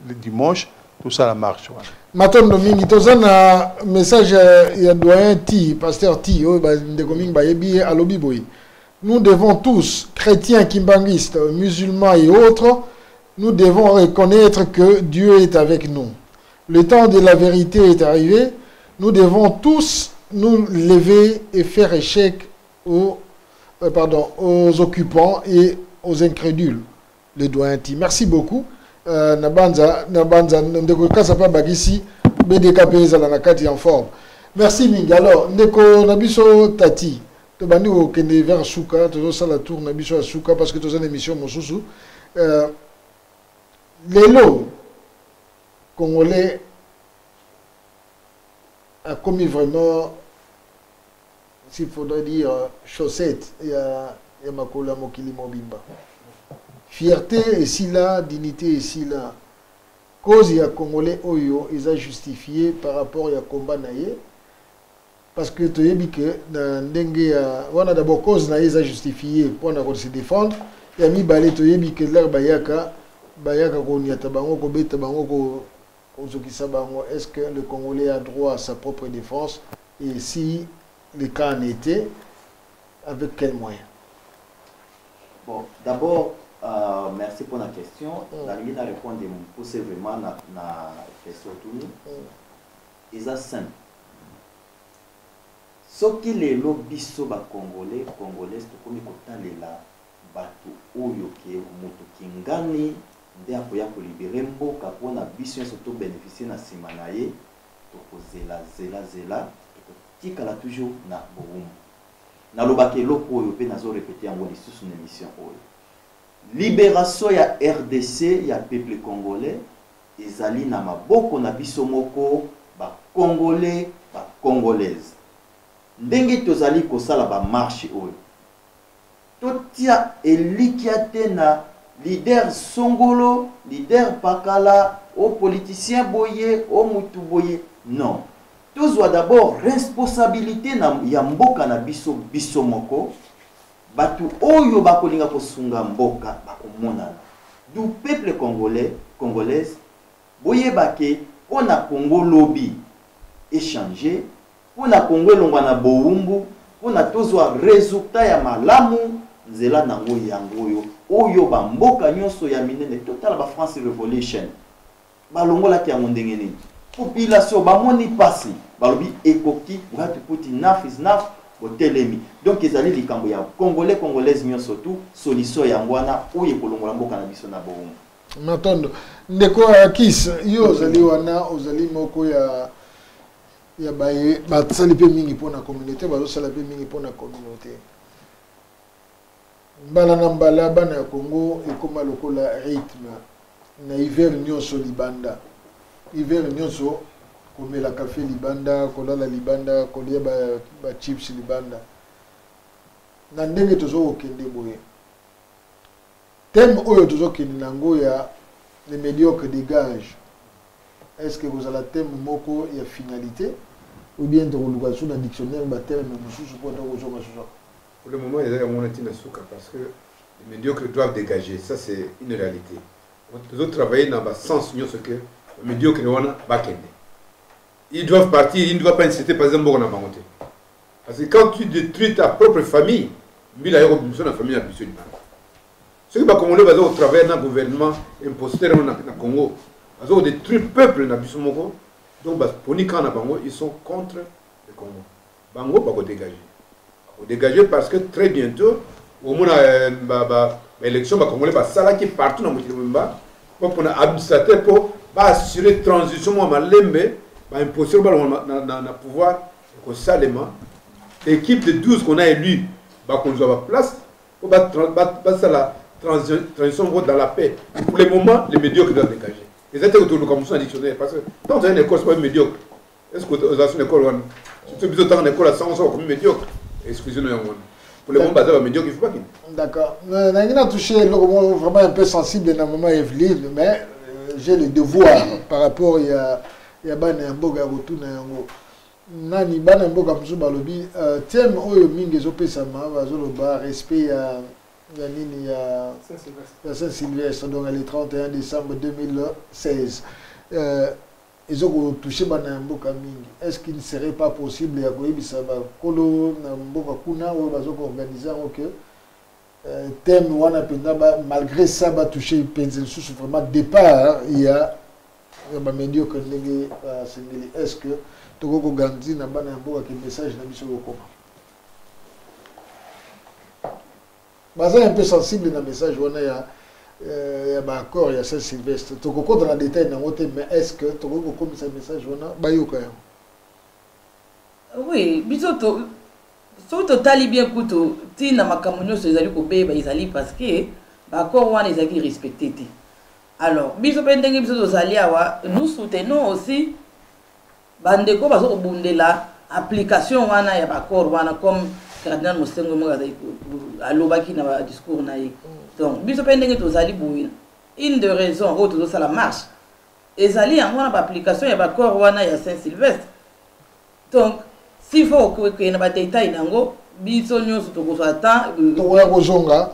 le dimanche tout ça la marche wana. Matondo mingi toza na message ya doyen T, pasteur T oyo ba ndeko mingi bayebi ye alobi boye. Nous devons tous, chrétiens, kimbanguistes, musulmans et autres, nous devons reconnaître que Dieu est avec nous. Le temps de la vérité est arrivé. Nous devons tous nous lever et faire échec aux, euh, pardon, aux occupants et aux incrédules, le doyen Ti. Merci beaucoup. Euh, Nabanza, Nabanza, Ndeko Kasapa Bagisi, BDK Peza, la Nakati en forme. Merci mingi. Alors, Ndeko Nabiso Tati, tobandi kokende vers suka tozosala tour na biso ya suka parce que toza na émission mosusu euh, lelo congolais akomi vraiment Ici il faudrait dire chaussette ya, ya makolo ya mokili mobimba. Fierté esila, dignité esila. Cause ya Congolais oyo eza justifiée par rapport ya combat na ye. parce que toyebi ke na ndenge ya wana d'abord cause na ye eza justifie mpo na kose défendre ya mibale toyebi ke lere bayaka bayaka konyata bango kobeta bango Ozokisa bango est ce que le congolais a droit à sa propre defense et si le cas en etait avec quel moyen? Bon, d'abord euh, merci pour la question. Mm. Nalingi na répondre mukuse vraiment na, na question tuni. Mm. Eza simple. soki lelo biso bacongolais congolaise tokomi kotalela Batu oyo que mutu kingani nde akoya ko libere mboka pona biso nionso to beneficie na sima na ye toko zela zela zela toko tikala toujours na bowumbu na lobaka eloko oyo pe nazo repete yango lisusu na emission oyo liberation ya rdc ya peuple congolais ezali na maboko na biso moko ba congolais ba congolaise ndenge tozali kosala ba marche oyo Totia elikya te na leader songolo, leader pakala, o politicien boye, o mutu boye non. Tozwa d'abord responsabilite na ya mboka na biso biso moko, batu oyo bakolinga kosunga mboka bakomonana. D'où peuple congolais, congolaise boyeba ke pona Congo lobi e changer, pona Congo elongwa na bowumbu pona tozwa resultat ya malamu nzela nango yango oyo oyo ba mboka nionso ya minene totala ba France revolution balongolaki yango ndenge nini population bamoni pasi balobi ekoki what put enough is enough botelemi donc ezali likambo ya congolais congolaise nionso tu solution yango wana oyo ekolongola mboka na biso na bowumbu matondo ndeko ya kis yo ozali wana ozali moko ya ya baye basali mpe mingi mpo na communauté bazosala mpe mingi mpo na communauté mbala na mbala bana ya congo ekóma lokola rythme na hiver nyonso libanda hiver nyonso komela kafe libanda kolala libanda kolia bachips ba libanda na ndenge tozo kokende boye Thème oyo tozo kende na ngo ya les mediocres degagent est ce que ekozala thème moko ya finalite ou bien tokoluka lisusu na dictionnaire ba terme mosusu mpo ata kozonga lisusu pour le moment eza yango wana ntina suka parce que les mediocres doivent dégager ça c'est une réalité tozo travailler na ba sens nyonso que ba mediocres wana bakende ils doivent partir ils ne doivent pas inciter par exemple mboka na bango te Parce que quand tu détruis ta propre famille, mbila yoko biso na famille na biso libanda. Soki ba Congolais bazo au travers na gouvernement imposteur na, na Congo, bazo détruire peuple na biso moko. Donc ba poni quand na bango, ils sont contre le Congo. Bango bako dégager. Bako dégager parce que très bientôt au moins euh, ba ba élection ba Congolais ba sala qui partout na mokili mba pour pona administrateur pour ba assurer transition moi malembe ba imposteur ba na, na, na pouvoir ekosalema equipe de 12 qu'on a élu bakozwa ba place po basala transition moko dans la paix pour le moment les médiocres doivent dégager eza te kotoluka mosusu na dictionnaire parce que tant ozali na école sokomi médiocre est ce que ozala so na école wana surtout biso ntanga na école ya sango soko komi médiocre excuse no yango wana pour le moment baza ba médiocre il faut bakende d'accord nangi na touche eloko moko vraiment un peu sensible na maman evelyne mais euh, j'ai le devoir par rapport ya ya bana ya mboka ya kotuna yango nani bana mboka mosusu balobi uh, thème oyo mingi ezopesama bazoloba respect ya ya nini ya ya saint sylvestre donc le 31 décembre 2016 euh, ezokotouche bana ya mboka mingi est ce qu'il ne serait pas possible ya koyebisa bakolo na mboka kuna oyo bazokoorganize yango ke Euh, thème wana mpenza malgré ça batouche mpenza lisusu vraiment départ ya ya bamédiocre ndenge basengeli euh, est ce que tokoki koganzi na bana ya mboka ke message na biso kokoma baza un peu sensible na message wana ya euh, ya baaccord ya saint sylvestre tokokota na détail nango te mais est ce que tokoki kokomisa message wana bayoka yango oui biso Soki totali bien kutu ti na makambo nyonso ezali kobeba ezali parce que ba accords wana ezalaki respecte te. Alors biso pe ndenge biso tozali awa nous soutenons aussi ba ndeko bazo kobundela application wana ya ba accords wana comme cardinal Monsengwo moko azali alobaki na ba discours na ye. Donc biso pe ndenge tozali boye une de raison oyo tozosala marche ezali yango wana ba application ya ba accords wana ya Saint Sylvestre Donc s'il faut kokende na badetail na yango biso nyonso tokozwa temps euh, tokoya kozonga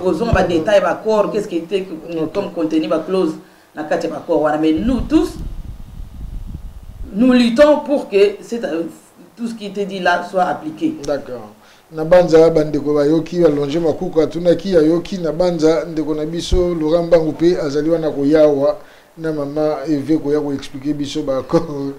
kozonga badetail baccord qu'est ce qui était comme contenu baclause na kati ya baccord wana mais nous tous nous luttons pour que euh, tout ce qui était dit là soit appliqué d'accord na banza bandeko bayoki balonge makuku atunaki ayoki na banza ndeko na biso laurent mbangu mpe azali wana koyawa na mama eve koya koexplike biso baaccord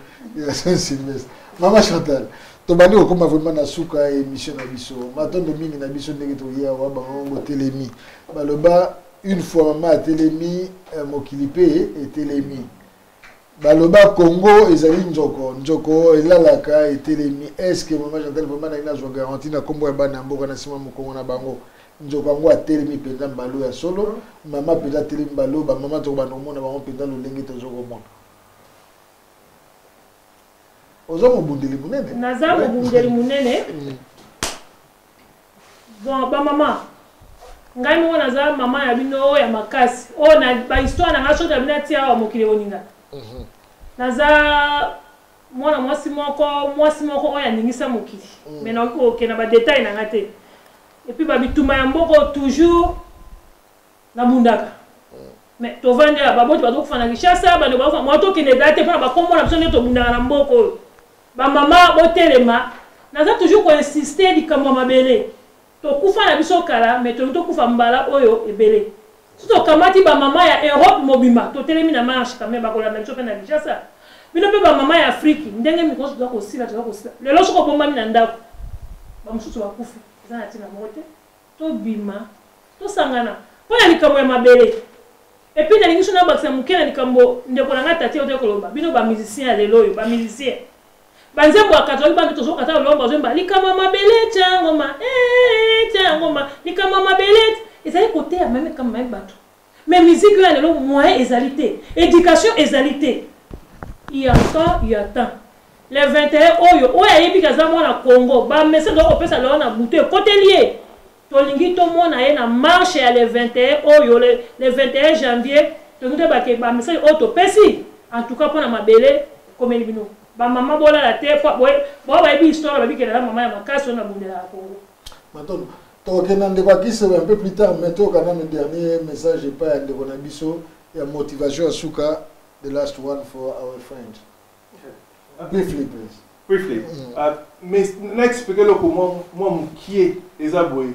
ya saint sylvestre mama chantal tobandi kokóma vraiment na suka ya émission na biso matondo mingi na biso ndenge toye awa bango botelemi baloba une fois mama atelemi euh, mokili mpe etelemi baloba congo ezali nzoko nzoko elalaka etelemi eske mama jantel vraimen naye nazwa garanti na nkombo ya bana ya mboka na nsima mokongo na bango nzoko yango atelemi mpenza mbalo ya solo mama mpenza atelemi mbalo bamama tokobanda komona bango mpenza lolenge tozo komona oza mobundeli monene naza mobundeli monene mm. Bon ba mama ngai moko naza mama na bino oyo ya makasi oyo oh, na ba histoire na ngai soki na bino atia awa mokili ekoninga mhm. naza mwana mwasi moko mwasi moko oyo aningisa mokili mm. me nakoki kokenda badetail na ngai te epuis babitumba ya mboko toujours Na bundaka. Mais tovandi awa baboti bazo kufa na Kinshasa, bande bazo moi to kende date pona ba kombo na biso nde to bundaka na mboka oyo. Ba mama bo telema, naza toujours ko insister likambo ya mabele. To kufa na biso kala mais tolingi to kufa mbala oyo ebele. Soki to kamati ba mama ya Europe mobimba to telemi na marche quand meme ba kolanda biso pe na Kinshasa. Bino pe ba mama ya Afrique ndenge mikolo toza ko sila toza ko sila. Lelo soki obombami na ndaku ba mususu ba kufi eza na tina moko te. Tobima tosangana pona likambo ya mabele et puis nalingi so nabakisa muke na likambo ndeko na ngai Tati autaki koloba bino ba musiciens ya lelo oyo ba musiciens ba nzembo ya katolaki bana tozokata lolombo bazoyemba likambo ya mabele tya yango ma ee tya yango ma likambo ya mabele ezali koteya meme likambo meme bato Mais musique oyo ya lelo moyen ezali te, education ezali te. Il y a temps, il y a temps. Le 21 oyo, oyo ayebi ke aza mwana Congo, ba message oyo kopesa lelo na butu ekoteli ye. Tolingi tomona ye na marche ya le 21 oyo, le, le 21 janvier, tolingi toyeba ke ba message oyo topesi, en tout cas pona mabele ekomeli bino. Ba mama bolala te, po boye, boye bayebi histoire, bayebi ke naza mama ya makasi oyo nabundelaka Congo. matondo tokokenda ndeko akise un peu plus tard mais toyoka nano dernier message epai ya ndeko na biso ya motivation ya suka the last one for our friend briefly please briefly mm. uh, mais na explique eloko mwa mokie eza boye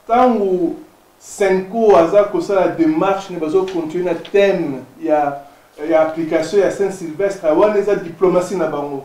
ntango uh, senco aza kosala démarche ne bazocontinue na thème ya ya application ya saint sylvestre wana eza diplomatie na bango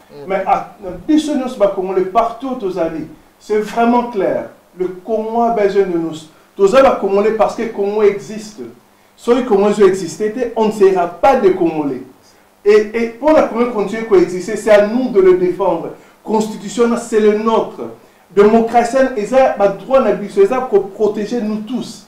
mm. mais ah, biso nyonso bakongole partout tozali c'est vraiment clair le congo a besoin de nous toza bakongole parce que congo existe soki congo ezo existe te on ne sera pas de congolais et, et pour la congo continuer koexiste c'est à nous de le défendre constitution na c'est le nôtre démocratienne eza badroit na biso eza koprotege nous tous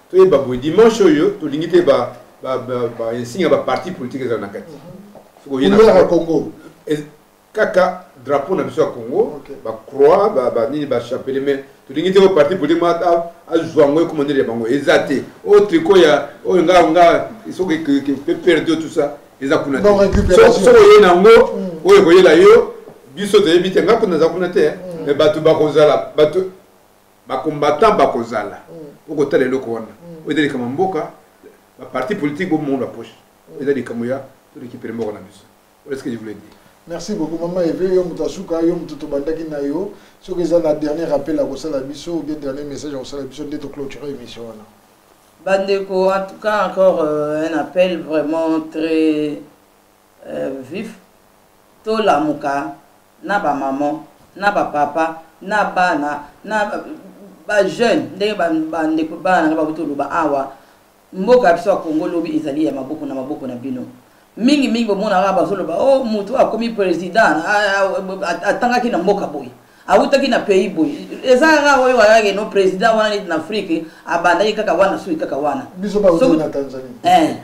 toyeba boye dimanche oyo tolingi te ba ba ba insigne ba parti politique ezala na kati soki oye na Congo kaka drapeau na biso ya Congo ba croix ba ba nini ba chapelet mais tolingi te ko parti politique ma azwa ngo ekoma ndele bango eza te o tricot ya oyo nga nga soki pe perdre tout ça eza kuna te soki oye na ngo mm. oyo koyela yo biso toyebi te nga kuna za kuna te mm. mais bato bakozala bato ba combattants bakozala okotala eloko wana oyo eza likambo ya mboka ba parti politique bomona ba poche oyo eza likambo ya to récupérer mboka na biso voilà ce que je voulais dire merci beaucoup mama eve yo moto asuka yo moto tobandaki na yo soki eza na dernier appel akosala biso ou bien dernier message akosala biso nde toclôture émission wana bandeko en tout cas encore euh, un appel vraiment très Euh vif to lamuka na ba maman na ba papa na bana na ba jeune ndenge ba ba ndeko bana nga ba buto loba awa mboka ya biso ya Congo lobi ezali ya maboko na maboko na bino mingi mingi bomona kaka bazoloba o oh, motu akomi president atangaki na mboka boye awutaki na pays boye eza kaka oyo kakake no président wana neti na afrique abandaki kaka wana soki kaka wana eh,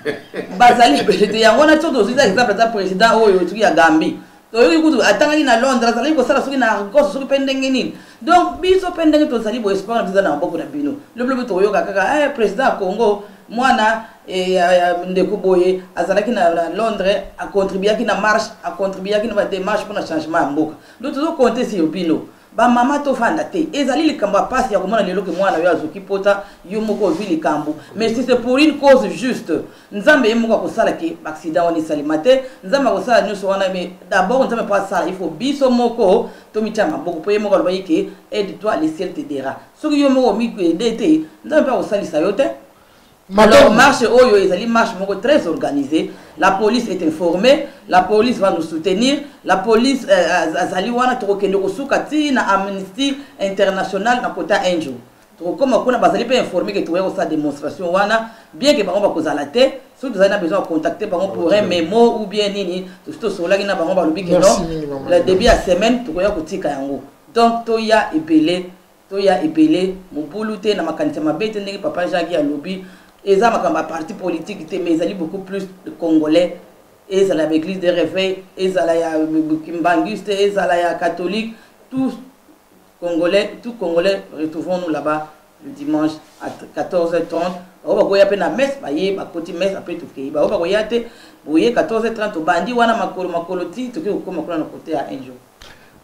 bazali ebele te yango wana so tozwi eza exemple aza président oyo soki ya gambie toyoki kutu atangaki na londres azalaki kosala soki na argos soki mpe ndenge nini donc biso mpe ndenge tozali boye sport na biso eza na maboko na bino lobilobi tokoyoka kaka eh, président ya congo mwana eh, ndeko boye azalaki na londres acontribuaki na marche acontribuaki na bademarche mpo na changement ya mboka Nous tozo compter sur bino. Ba mama to fanda te. Ezali likambo ya pasi ya komona lelo ke mwana yo azoki pota yo moko ozui likambo. Mais si c'est pour une cause juste, Nzambe ye moko akosala ke accident wana esalema te. Nzambe akosala nyoso wana mais d'abord Nzambe po asala il faut biso moko tomitia maboko po ye moko alobaki ke aide toi le ciel t'aidera. Soki yo moko omi aide te, Nzambe pe akosalisa yo te. Alors, marche oyo ezali marche moko très organisée. La police est informée, la police va nous soutenir, la police euh, azali wana tokokende kosuka ti na Amnesty International na kota un jour. tokokoma kuna bazali mpe informe ke tokoya kosala démonstration wana bien ke bango bakozala te soki tozali na besoin ya contacte bango pour un memo ou bien nini tosi tosololaki na bango balobi ke non le début ya semaine tokoya kotika yango donc toya ebele Toya ebele, mobulu te, na makanisi ya mabe te, ndenge papa Jean Guy alobi, eza makambo ya parti politique te, mais ezali beaucoup plus de congolais, ezala ya ba eglise de reveil, ezala ya kimbanguiste, ezala ya catholique, tout congolais, tout congolais, retrouvons nous là-bas le dimanche à 14h30 baoyo bakoya mpe na messe baye bakoti messe apres tokei baoyo bakoya te boye 14h30 tobandi wana makolo makolo ti tokoki kokoma kuna na kote ya un jour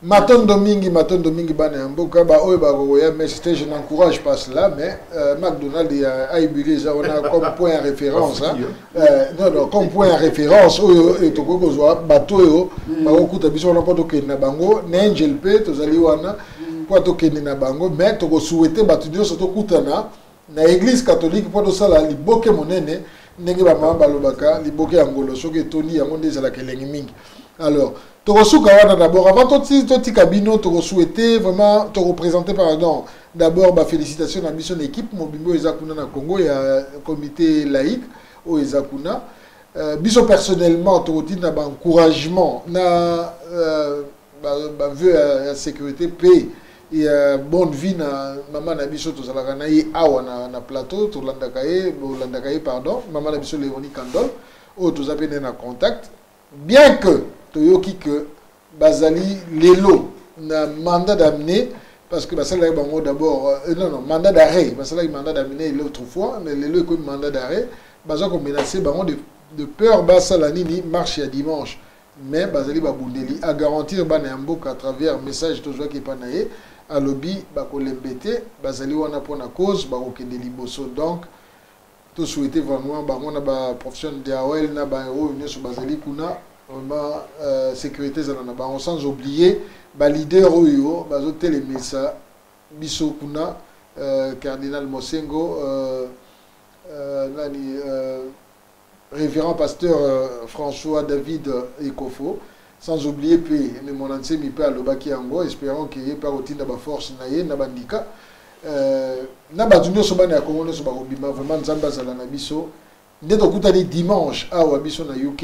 matondo mingi matondo mingi bana ya mboka baoyo bakokoya messe te je n'encourage pas cela mais euh, macdonald ya aibili eza wana comme point ya référence hein. euh, non, non, comme point ya référence oyo euh, tokoki kozwa bato oyo mm. bakokuta biso wana mpo tokende na bango na angel mpe tozali wana mpo tokende na bango mais tokosouhaite bato nyonso tokutana na eglise catholique mpo tosala liboke monene ndenge bamama balobaka liboke ya ngolo soki etondi yango nde ezalaka elengi mingi alors tokosuka wana d'abord avant totika bino tokosouhaite vraiment tokopresente pardon d'abord bafélicitation na biso na équipe mobimba oyo eza kuna na congo ya comité laïque oyo eza kuna euh, biso personnellement tokotinda baencouragement na euh, ba, ba vœux ya, ya sécurité mpe ya bonne vie na mama na biso tozalaka na ye awa na, na plateau tolandaka ye bolandaka ye pardon mama na biso Leonie Kandol oyo toza mpe naye na contact bien que toyoki que bazali lelo na mandat d'amener parce que basalaki bango d'abord euh, euh, non non mandat d'arrêt basalaki mandat d'amener l'autre fois mais lelo ekomi mandat d'arrêt baza komenace bango de, de peur basala nini marche ya dimanche mais bazali babundeli a garantir bana ya mboka à travers message tozwaki epa na ye alobi bakolembe te bazali wana mpo na cause bakokende liboso donc to souhaite vraiment bango na ba professionnel de awel na baoyo nyonso bazali kuna vraiment euh, sécurité ezala na bango sans oublier baleader oyo bazotelemisa biso kuna euh, cardinal mosengo euh, euh, nani euh, Reverend Pasteur euh, François David euh, Ekofo, sans oublier pe me mon ensemi pe alobaki yango, espérant que ye pe akotinda ba force na ye na bandika. Euh, na bato nyonso bana ya Congo nyonso bakobima vraiment Nzambe azala na biso. Nde tokutani dimanche awa biso na UK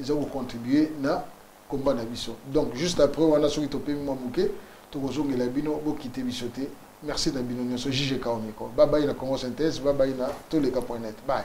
eza ko contribuer na combat na biso donc juste après wana soki topemi mwa moke tokozongela bino bokite biso te merci na bino nyonso juge kao micro babayi na congo synthèse babayi na toleka point net bye